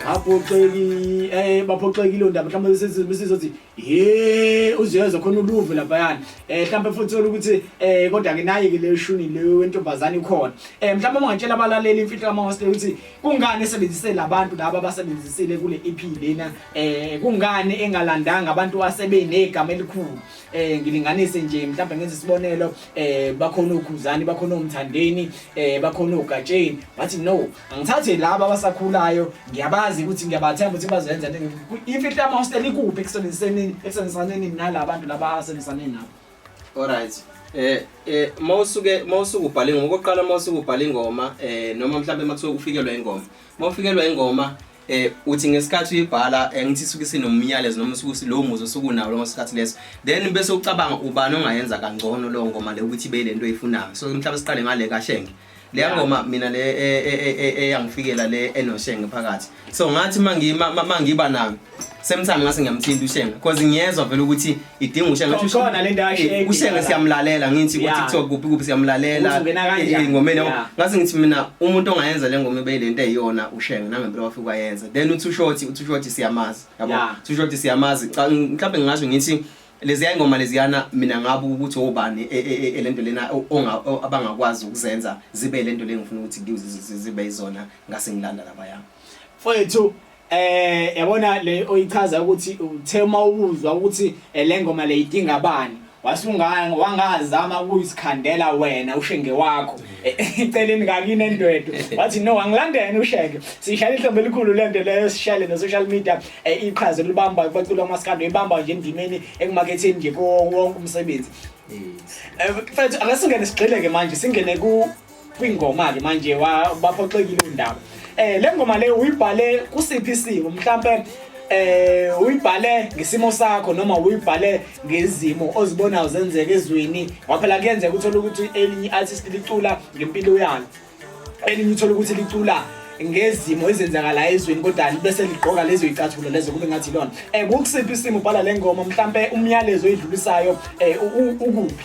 baphoxeki eh baphoxekile ondaba mhlawumbe besizothi ye uziyezwa khona uluve laphayana eh mhlawumbe futhi thola ukuthi eh kodwa ke naye ke le shuni le wentombazane ikhona eh mhlawumbe ungatshela abalaleli imfihlo kama hostel ukuthi kungani esebenzise labantu laba abasebenzisile kule EP lena eh kungani engalandanga abantu asebenegama elikhulu eh ngilinganise nje mhlawumbe ngenze isibonelo eh bakhona ukhuzani bakhona umthandeni eh bakhona ugatsheni bathi no angithathe laba abasakhulayo ngiyabazi ukuthi ngiyabathemba ukuthi bazenza imfihla ama hostel ikuphi ekusebenziseni ekusebenziseni nalabo bantu laba asebenzisane nabo all right eh eh mawusuke mawusuke ubhala ingoma okokuqala mawusuke ubhala ingoma eh noma mhlawumbe makuthiwa ufikelwa ingoma Mawufikelwa ingoma eh uthi ngesikhathi uyibhala eh, ngithi suke sinomyalezo noma suke silowo muzi osukunawo lo sikhathi leso then bese ucabanga ubani ongayenza kangcono lo ngoma le ukuthi ibe lento eyifunayo so mhlawumbe siqale ngale kashenge le ngoma mina le e, e, e, eyangifikela le enoshenge phakathi so ngathi mangiba nami same time ngase ngiyamthinta ushenga because ngiyezwa vele ukuthi idinga ushenga Khona- khona le nto ayisheki. ushenga siyamlalela ngithi ku Yeah. TikTok kuphi kuphi siyamlalela Ukuthi ungena kanjani. Eh, engomeni yabo. Yeah. ngase ngithi mina umuntu ongayenza le ngoma ibe lento eyiyona ushenga nangempela wafika wayenza then uthi ushoti uthi ushoti siyamazi yabo Yeah. uthi ushoti siyamazi Ca- mhlawumbe ngingasho ngithi leziya ngoma leziyana mina ngabe ukuthi obani e- e- e- elento lena o- onga- o- abangakwazi ukuzenza zibe lento lengifuna ukuthi ngizi- zi- zi- zibe izona ngase ngilanda labayami mfowethu Eh yabona le oyichaza ukuthi uthe uma ubuzwa ukuthi eh, le ngoma le idinga abani wasunganga wangazama ukuyisikhandela wena ushenge wakho eceleni kakini endwedo wathi no angilandene ushenge sishayela ihlombe elikhulu lento leyo sishayele no social media eh, iqhaza libamba bacula amaskando ibamba nje endimeni ekumaketheni nje konke umsebenzi eh, mfethu akasingene sigxile ke manje singene ku kwingoma ke manje baphoxekile undaba eh le ngoma le uyibhale kusiphi isimo mhlambe eh uyibhale ngesimo sakho noma uyibhale ngezimo ozibonayo zenzeka ezweni waphela kuyenzeka uthola ukuthi elinye artist licula ngempilo yalo elinye uthola ukuthi licula ngezimo ezenzakala ezweni kodwa bese ligqoka lezo icathulo lezo kube ngathi lona eh kukusiphi isimo ubhala lengoma mhlambe umyalezo oyidlulisayo eh ukuphi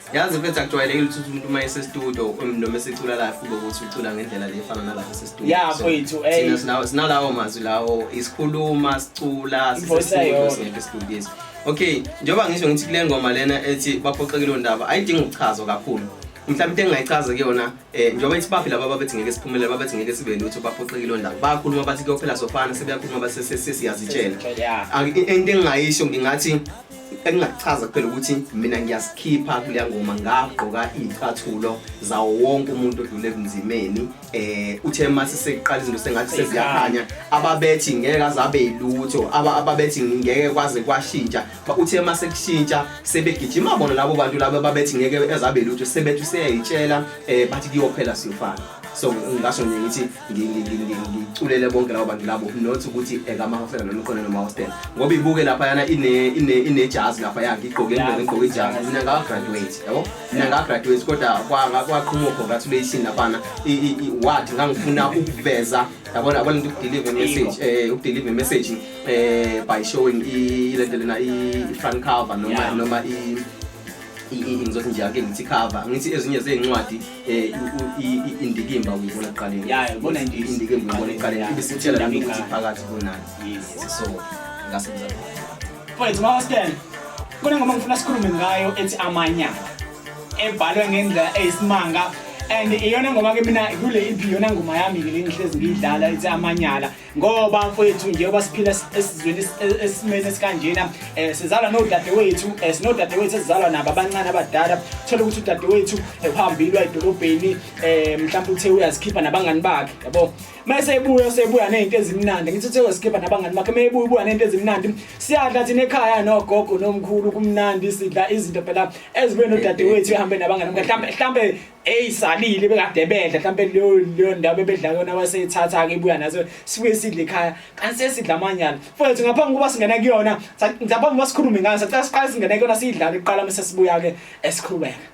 yazi mfethu akujwayelekile ukuthi umuntu uma esestudio um, noma esecula live kube ukuthi ucula ngendlela le efana nalapha sestudio ya mfethu eh sinalawo mazwi lawo isikhuluma sicula sisestudio singekho estudio yethu okay njengoba ngisho ngithi kule ngoma lena ethi baphoxekile ondaba ayidingi ukuchazwa kakhulu mhlawumbe into engingayichaza kuyona eh njengoba ithi baphi laba babethi ngeke siphumele babethi ngeke sibe lutho baphoxekile ondaba bayakhuluma bathi kuyophela sofana sebeyakhuluma basesesiyazitshela into engingayisho ngingathi engingakuchaza kuphela ukuthi mina ngiyasikhipha kuleya ngoma ngagqoka iy'cathulo zawo wonke umuntu odlule ebunzimeni eh uthe mase sekuqala izinto sengathi seziyakhanya ababethi ngeke azabe yilutho ababethi ngeke kwaze kwashintsha uthe mase kushintsha sebegijima bona labo bantu labo ababethi ngeke ezabe yilutho sebethi useyayitshela eh bathi kuyophela siyofana so ngasho nje ngithi ngiculele bonke labo bantu labo not ukuthi ekamahofela noma iqole noma hostel ngoba ibuke lapha yana ine ine inejazi lapha yakhe igqoke into igqoke ijazi mina nga graduate yabo mina nga graduate kodwa kwanga kwaqhuma congratulations lapana wathi ngangifuna ukuveza yabona yabona into ukudeliver message eh ukudeliver message eh by showing i lento lena i front cover noma noma i ngizothi nje ake ngithi cover ngithi ezinye zezincwadi eh indikimba uyibona eqaleni yeah ubona indikimba uyibona eqaleni ibisithela nami ukuthi phakathi kunani yes so ngase mzala mfowethu mama Stan kunengoma ngifuna sikhulume ngayo ethi amanyala ebhalwe ngendlela eyisimanga and iyona ngoma ke mina kule EP yona ngoma yami ke lengihlezi ngiyidlala ithi amanyala ngoba mfowethu njengoba siphila esizweni e-, esimeni esikanjena um eh, sizalwa nodadewethu um eh, sinodadewethu esizalwa nabo abancane abadala thole ukuthi udadewethu eh, uhambile edolobheni um mhlawumbe uthe uyazikhipha nabangani bakhe yabo uma esebuya usebuya ney'nto ezimnandi ngithi uthe uyazikhipha nabangani bakhe uma ebuya ubuya ney'nto ezimnandi siyadla thina ekhaya nogogo nomkhulu kumnandi sidla izinto phela ezibuye nodadewethu ehambe nabangani mhlawumbe eyi salile bekade bedla mhlawumbe leyo leyo ndawo bebedla kuyona waseyithatha-ke ibuya naso sibuye sidle ekhaya kanti sesidla amanyala futhi ngaphambi kokuba singena kuyona ngaphambi kokuba sikhulume ngayo sacela siqale singene kuyona siyidlale kuqala uma sesibuya-ke esiqhubeka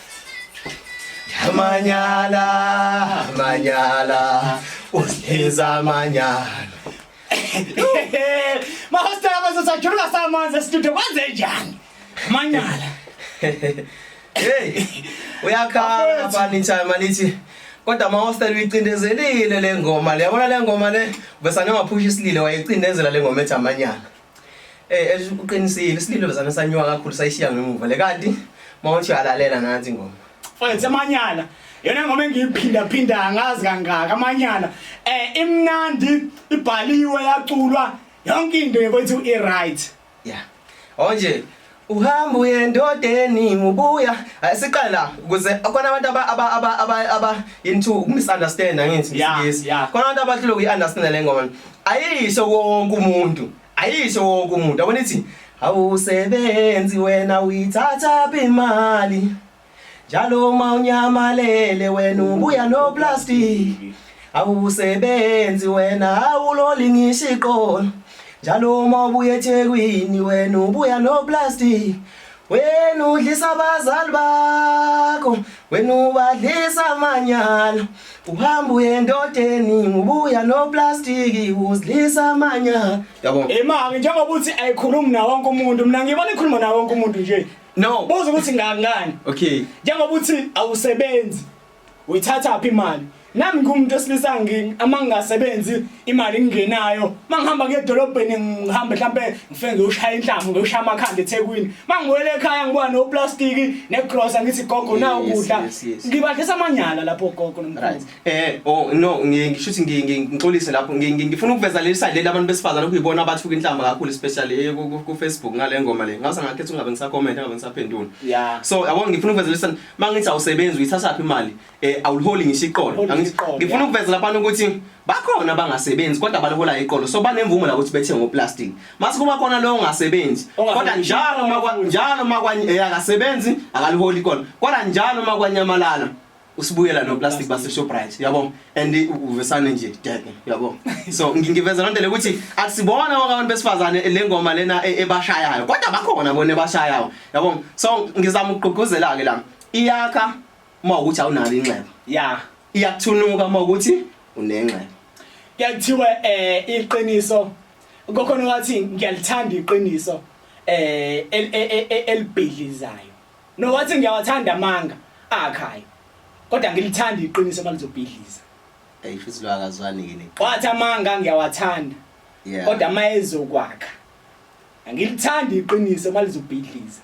Amanyala, amanyala, usiza amanyala. Mahostela bazosajuluka samanzi estudio kwenze njani? Manyala. Hey, uyakhala bani time malithi. Kodwa mahostela uyicindezelile le ngoma le. Yabona le ngoma le, bese angaphusha isilile wayicindezela le ngoma ethi amanyala. Eh esho uqinisile isililo zami sanyuka kakhulu sayishiya ngemuva le kanti mawuthi uyalalela nansi ngoma. Mfowethu amanyala yona ngoma engiyiphinda phinda angazi kangaka amanyala eh imnandi ibhaliwe yaculwa yonke into yethu i right. Yeah. Onje uhamba uye endodeni ubuya Eh, siqale la ukuze khona abantu aba aba aba aba aba into ukumisunderstand angithi Yeah, ngisiyisi yeah. khona abantu abahlule ukuyiunderstand le ngoma ayisho wonke umuntu ayisho wonke umuntu yabona ithi awusebenzi wena uyithatha phi imali Njalo uma unyamalele wena ubuya no plastic awusebenzi wena awuloli ngisho iqolo njalo uma ubuya eThekwini wena ubuya no plastic wena udlisa abazali bakho wena ubadlisa amanyala uhamba uye endodeni ubuya no plastic uzidlisa amanyala yabona imali njengoba uthi ayikhulumi na wonke umuntu mina ngibona ikhuluma na wonke umuntu nje No. Buza ukuthi ngangani. Okay. Njengoba uthi awusebenzi. Uyithatha phi imali? Nami ngumuntu osilisa ngini ama ngingasebenzi imali ngingenayo. Mangihamba ke edolobheni ngihamba mhlambe ngifike ngiyoshaya inhlamu ngiyoshaya amakhanda eThekwini. Mangibuyele ekhaya ngibuya no plastic ne grocer ngithi gogo na ukudla. Ngibadlisa amanyala lapho gogo nomkhulu. Eh oh no ngisho ukuthi ngixolise lapho ngifuna ukuveza leli side leli abantu besifazana okuyibona abathuka inhlamba kakhulu especially eh, ku Facebook ngale ngoma le ngase ngakhetha ungabe ngisa comment ngabe ngisaphendula yeah so yabo ngifuna ukuveza leli side mangithi awusebenzi uyithatha phi imali eh awuliholi ngisho iqolo ngifuna ukuveza lapha ukuthi bakhona abangasebenzi kodwa balihola iqolo so banemvumo la ukuthi bethe ngoplastic mase kuba khona lo ongasebenzi kodwa njalo makwa njalo makwa eh, akasebenzi akaliholi iqolo kodwa njalo makwanyamalala usibuyela no plastic base Shoprite yabo and uvesane nje deke yabo so ngiveza lonto le ukuthi akusibona wonke abantu besifazane lengoma lena e, ebashayayo kodwa bakhona bona ebashayayo yabo so ngizama ukugqugquzela ke la iyakha uma ukuthi awunalo inxeba yeah iyakuthunuka uma ukuthi unenxeba kuyakuthiwa eh iqiniso kokhona wathi ngiyalithanda iqiniso eh elibhidlizayo No wathi ngiyawathanda amanga akhaya. Kodwa ngilithanda iqiniso malizobhidliza. Hey futhi lo akazwani ke neqiniso. Wathi amanga ngiyawathanda. Yeah. Kodwa mayezokwakha. Angilithanda iqiniso malizobhidliza.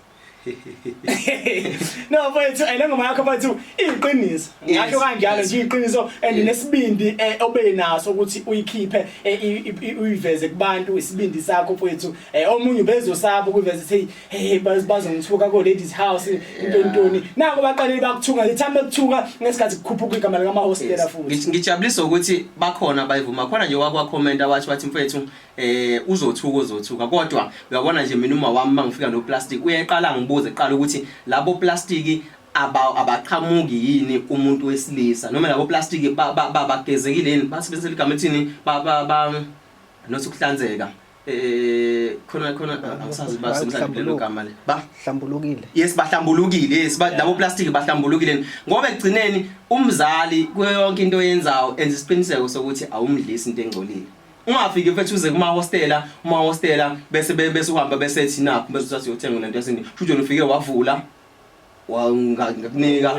no mfethu ayilengoma yakho mfethu iyiqiniso ngasho kanjalo nje iyiqiniso and nesibindi eh, obe naso ukuthi uyikhiphe eh, uyiveze kubantu isibindi sakho mfethu eh, omunye ubezosaba ukuveza ukuthi hey bazongithuka ko ladies house into ntoni nako baqalile bakuthunga ngithanda ukuthunga ngesikhathi kukhuphuka igama lika mahostela futhi ngijabulisa ukuthi bakhona bayivuma khona nje wakwa comment awathi bathi mfethu eh uzothuka uzothuka kodwa uyabona nje mina uma wami mangifika no plastic uyeqala ngibuze qala ukuthi labo plastic abaqhamuki yini umuntu wesilisa noma labo plastic babagezekile yini basebenzisa igama ethini ba ba nothi ukuhlanzeka eh khona khona angisazi ba somhlanje kulelo gama le ba hlambulukile yes bahlambulukile yes ba labo plastic bahlambulukile ngoba ekugcineni umzali kuyo yonke into oyenzayo enza isiqiniseko sokuthi awumdlisi into engcolile ungafiki mfethu uze kuma hostela uma hostela bese bese uhamba bese ethi nakho bese usathi uyothenga lento yasini futhi ufike wavula ngakunika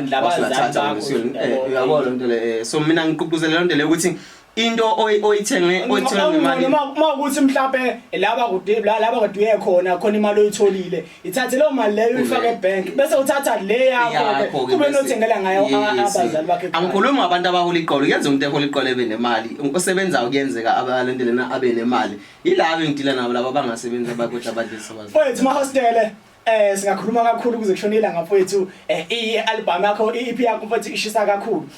uyabona into le so mina ngiququzela lento le ukuthi into oyithenge oyithola ngemali uma ukuthi mhlawumbe laba kude laba kuduye khona khona imali oyitholile ithathe leyo mali leyo uyifake ebank bese uthatha le yakho kube nothengela ngayo abazali bakhe angikhulumi ngabantu abahola iqolo yenza umuntu ehola iqolo ebe nemali osebenzayo kuyenzeka abalento lena abe nemali yilabo engidila nabo laba bangasebenzi abakodwa abadlisa abazali wethu ma hostele Eh singakhuluma kakhulu kuze kushone ilanga mfowethu eh i-album yakho i-EP yakho mfowethu ishisa kakhulu.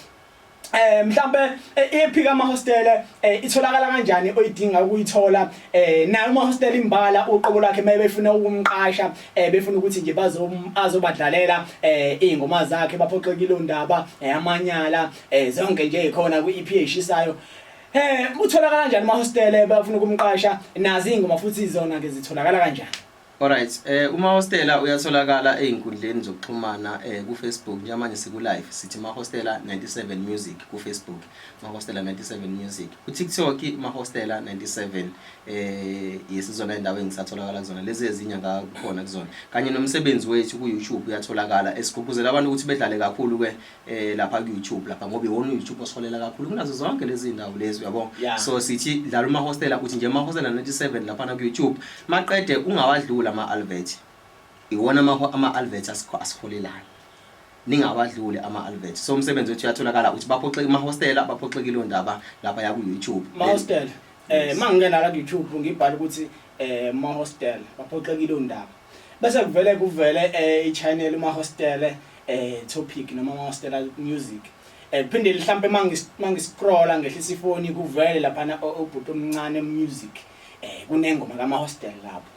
Eh mhlambe i-EP eh, kama hostel eh, itholakala kanjani oyidinga ukuyithola eh nayo uma hostel imbala uqobo lakhe maye befuna ukumqasha eh befuna ukuthi nje bazom azobadlalela eh ingoma zakhe baphoxekile ondaba eh, amanyala eh zonke nje ikhona kwi-EP eshisayo Eh utholakala kanjani mahostele bafuna ukumqasha nazi ingoma futhi izona ke zitholakala kanjani Alright, eh uma hostela uyatholakala einkundleni zokuxhumana eh ku Facebook njengamanje siku live sithi ma hostela 97 music ku Facebook, ma hostela 97 music. Ku TikTok ma hostela 97 eh yesizona indawo engisatholakala kuzona lezi ezinye ngakhona kuzona. Kanye nomsebenzi wethu ku YouTube uyatholakala esigqugquzela abantu ukuthi bedlale kakhulu ke eh lapha ku YouTube lapha ngoba iwona YouTube osolela kakhulu kunazo zonke lezi ndawo lezi uyabo yeah. so sithi dlala uma hostela uthi nje ma hostela 97 lapha na ku YouTube maqede ungawadlula ama advert iwona ama ama advert asiholelayo ningawadlule ama advert so umsebenzi wethu uyatholakala uthi baphoxe ama hostela baphoxekile ondaba lapha ya ku YouTube ma hostela eh mangingena la ku YouTube ngibhala ukuthi eh ma hostela baphoxekile ondaba Bese kuvele kuvele eh, i-channel umahostele eh, topic noma amahostela music eh, phinde mhlampe mangiscrolla ngehlisa ifoni kuvele laphana ubhuti omncane music eh, kunengoma kamahostela lapho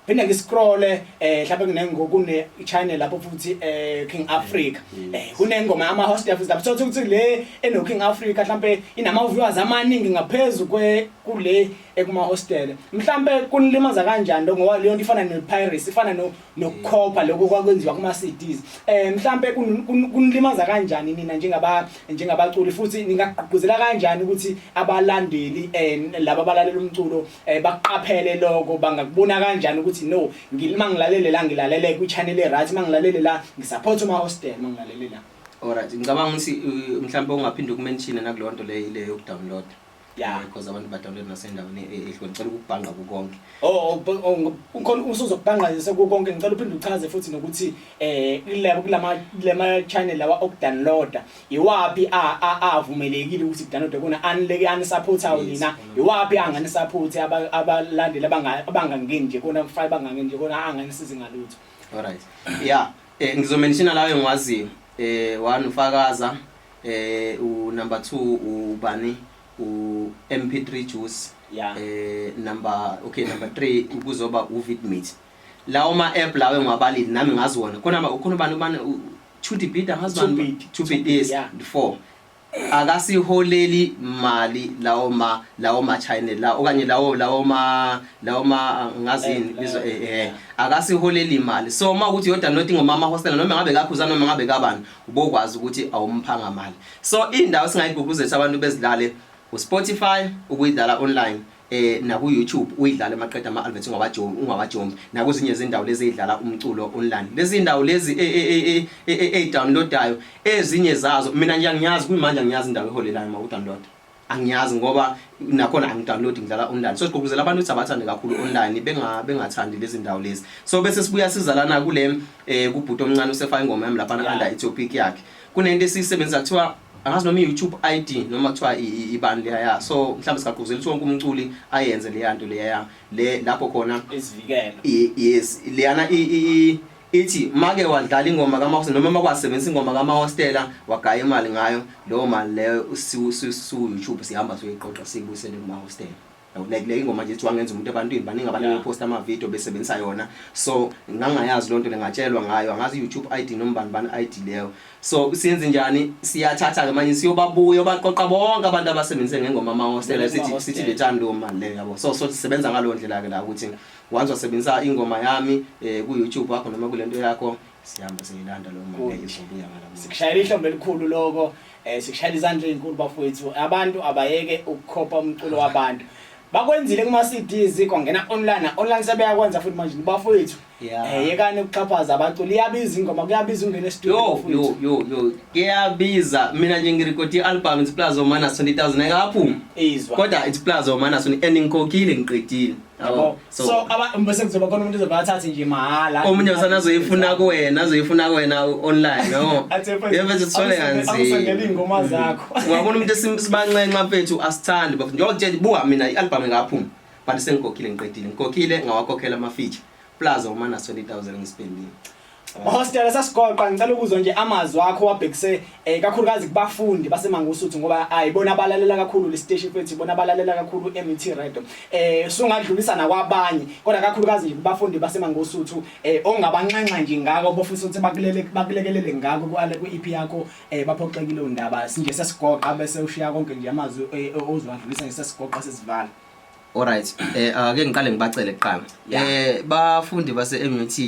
phinde ngiscrolle eh mhlawumbe kunengo kune channel lapho futhi eh King Africa mm. eh kunengoma yama host yafuthi lapho sothi ukuthi le eno King Africa mhlawumbe inama viewers amaningi ngaphezulu kwe kule ekumahostele mhlampe kunilimaza kanjani lokho ngoba leyo nto ifana ne-piracy ifana nokukhopha lokho kwakwenziwa kuma-cds um mhlampe kunilimaza kanjani nina njengabaculi futhi ningagqugquzela kanjani ukuthi abalandeli um laba abalalela umculo um baqaphele lokho bangakubona kanjani ukuthi no uma ngilalele la ngilalele kwi-channel e-right uma ngilalele la ngisaphothe uma-hostel uma ngilalele la olright ngicabanga ukuthi mhlawumbe ungaphinde ukumenshine nakuleyo nto leyo ile yokudownloada Yeah. because abantu badawunload nasendaweni e- e- ehlukene ngicela ukubhangqa kukonke Oh, oh, oh, ukhona usuzokubhanqa nje sekukonke ngicela uphinde uchaze futhi nokuthi eh kulabo kulama lama channel lawa okudownloada iwapi a a avumelekile ukuthi kudownload kona anileke anisupportayo Yes, nina khona. iwapi angani support aba- abalandeli abanga- abangangeni nje kona mfana bangangeni nje kona anganisizi ngalutho alright ya eh, ngizomenshina lawo engiwaziyo um one ufakaza eh u number 2 ubani u MP3 juice yeah. eh number okay number 3 kuzoba u Vidmate lawo ma app lawo engiwabalile nami ngazi wona khona ba ukhona abantu bane chuti beat angazi bani chuti beat yeah. 4 akasiholeli mali lawo ma lawo ma channel la okanye lawo lawo ma lawo ma ngazini bizo eh, eh, eh akasiholeli imali so uma ukuthi yoda not ngomama hostel noma ngabe kakhuza noma ngabe kabani ubokwazi ukuthi awumphanga mali so indawo singayiguguzisa abantu bezidlale uSpotify ukuyidlala online eh naku YouTube uyidlala emaqeda ama adverts ungawajombi ungawajombi nakuzinye izindawo lezi ezidlala umculo online lezi indawo lezi e, e, e, e downloadayo ezinye zazo mina nje angiyazi kumanje angiyazi indawo eholelayo maku download angiyazi ngoba nakhona angidownload ngidlala online so sigqugquzela abantu ukuthi abathande kakhulu online benga bengathandi lezi ndawo lezi so bese sibuya sizalana kule eh kubhuti omncane usefaka ingoma yami lapha under Ethiopic yakhe kunento esiyisebenzisa kuthiwa angazi noma i-youtube id noma kuthiwa ibani leya ya so mhlawumbe sigaquzela ukuthi wonke umculi ayenze leya nto leya le lapho khona yes leyana Ithi make wadlala ingoma kaMahosta noma uma kwasebenzisa ingoma kaMahostela wagaya imali ngayo leyo mali leyo siwu-YouTube sihamba siyoyiqoqa siyibuyisele kuMahostela like le ingoma nje wangenza umuntu ebantwini baningi abantu beposta amavidiyo besebenzisa yona so ngangayazi loo nto le ngatshelwa ngayo angazi i-youtube i d noma bani bani i d leyo so siyenze njani siyathatha-ke manje siyobabuya obaqoqa bonke abantu abasebenzise ngengoma amahostela sithi sithi lethani leyo mali leyo yabo so so sisebenza ngaleyo ndlela-ke la ukuthi once wasebenzisa ingoma yami eh, ku YouTube wakho noma kulento yakho siyamba siyilanda lo mama izobuya ngala sikushayela ihlombe elikhulu lokho eh sikushayela izandla ezinkulu bafowethu abantu abayeke ukukhopa umculo wabantu bakwenzile kuma CDs kwangena online online sebeyakwenza futhi manje bafowethu eh yekani ukuxhaphaza abaculi iyabiza ingoma kuyabiza ungena estudio yo yo yo kuyabiza mina nje ngirecord ialbum it's plus omana 20000 engaphuma kodwa it's plus omana 20000 and ngikhokhile ngiqedile yabo so so aba bese kuzoba khona umuntu ozoba athathe nje mahala omunye usana azoyifuna kuwena azoyifuna kuwena u- online no Athe mfethu, yebo nje sithole awusangeni- awusangeni kanzima iy'ngoma zakho ungabona umuntu esim- sibanxenxa mfethu asithandi bafethu njengoba kutshela buka mina i-albhamu ingaphuma but sengikhokhile ngiqedile ngikhokhile ngawakhokhela ama-feature plus omana 20000 ngisipendile Hostela sasigoqa ngicela ukuzwa nje amazwi akho wabhekise eh kakhulukazi kubafundi baseMangosuthu ngoba ayibona abalalela kakhulu le station futhi ibona abalalela kakhulu MT Radio eh sungadlulisa nakwabanye kodwa kakhulukazi nje kubafundi baseMangosuthu eh ongabanxenxa nje ngako bofisa ukuthi bakulele bakulekelele ngako kuale ku EP yakho eh baphoxekile undaba sinje sesigoqa bese ushiya konke nje amazwi eh, ozwadlulisa nje sesigoqa sesivala Alright eh ake ngiqale ngibacele kuqala eh bafundi base MUT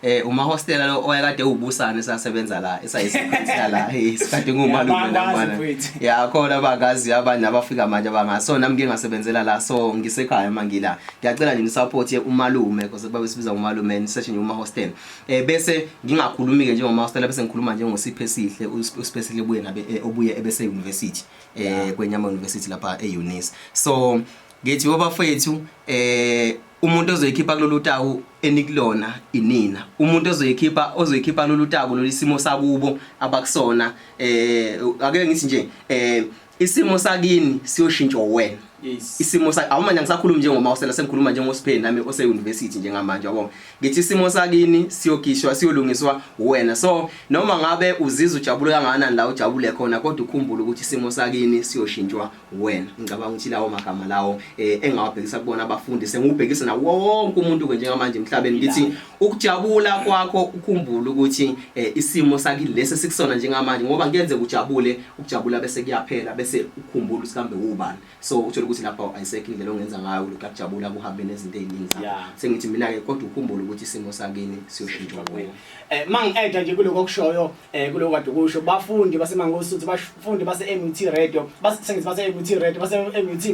eh uma hostela lo oyakade ubusane sasebenza la esayisiphansi la isikade ngumalume namana ya khona bakazi abanye abafika manje abangasona mke ngasebenzela la so ngisekhaya mangila ngiyacela nje support umalume because babe sibiza umalume session uma hostel eh bese ngingakhulumi ke njengoma hostela bese ngikhuluma njengo siphe sihle uspesihle buye nabe eh, obuye ebese university eh kwenyama university lapha eUnis so ngithi wabafethu eh umuntu ozoyikhipha kulolu taku enikulona inina umuntu ozoyikhipha ozoyikhipha kulolu taku lolu isimo sakubo abakusona eh ake ngithi nje eh isimo sakini siyoshintsha wena Yes. Isimo sakhe awumanje ngisakhuluma njengoma osela sengikhuluma njengosipheni nami ose university njengamanje yabo. Ngithi isimo sakini siyogishwa siyolungiswa wena. So noma ngabe uzizwa ujabule kangakanani la ujabule khona kodwa ukhumbule ukuthi isimo sakini siyoshintshwa wena. Ngicabanga ukuthi lawo magama lawo eh, engawabhekisa kubona abafundi sengubhekisa na wonke umuntu ke njengamanje emhlabeni ngithi ukujabula kwakho ukhumbule ukuthi eh, isimo sakini lesi sikusona njengamanje ngoba kuyenze ujabule ukujabula bese kuyaphela bese ukhumbula usikambe ubani so uthola ukuthi lapha ayisekho indlela ongenza ngayo lokhu kujabula kuhambe nezinto eziningi zakho yeah. sengithi mina ke kodwa ukhumbule ukuthi isimo sakini siyoshintsha kuwe eh mang eda nje kuloko kushoyo eh kulo kade kusho bafundi baseMangosuthu bafundi base-MUT Radio basithengisi base-MUT Radio base-MUT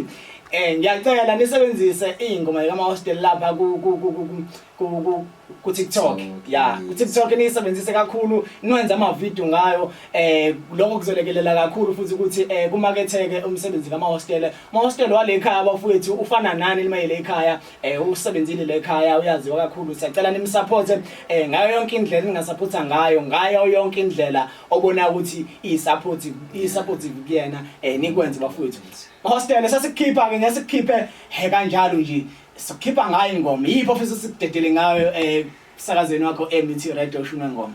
eh ngiyacela nisebenzise ingoma yama hostel lapha ku ku ku ku ku TikTok ya ku TikTok nisebenzise kakhulu nwenza ama video ngayo eh lokho kuzolekelela kakhulu futhi ukuthi eh kumaketheke umsebenzi kama hostel ma hostel wale ekhaya bafowethu ufana nani limayele ekhaya eh usebenzile le khaya uyaziwa kakhulu siyacela nimsupport eh ngayo yonke indlela ningasupporta ngayo ngayo yonke indlela obona ukuthi isupport isupport kuyena eh nikwenze bafowethu hostel sasikhipha ke ngesikhiphe he kanjalo nje sikhipha ngayo ingoma yipho ofisa sikudedele ngayo eh emsakazweni wakho ebt radio ushume ngoma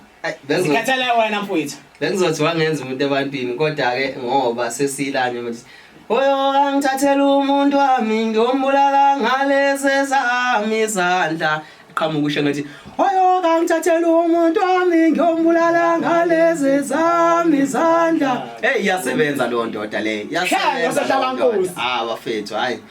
zikhathala wena mfowethu bengizothi wangenza umuntu ebantwini kodwa-ke ngoba sesilanye manje oyo angithathela umuntu wami ngiyombulala ngalezi zami izandla qhamuka usho ngathi oyo kangithathela umuntu wami ngiyombulala ngalezi zami izandla eyi iyasebenza leyo ndoda leyo iyasebenza leyo ndoda ah bafethu hhayi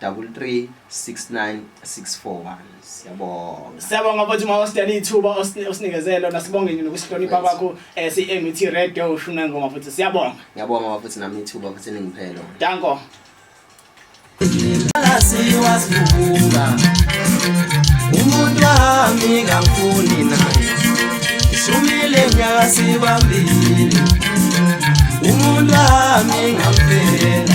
double three six nine six four one siyabonga siyabonga futhi uma usidela ithuba osinikeze lona sibonge nje nokusihlonipha kwakho um eh, si-met radio ushuna ngoma futhi siyabonga ngiyabonga bafuthi nami ithuba futhi ningiphelo danko siwasibuka umuntu wami kangifuni naye ishumile nyaka sibambile umuntu wami ngampela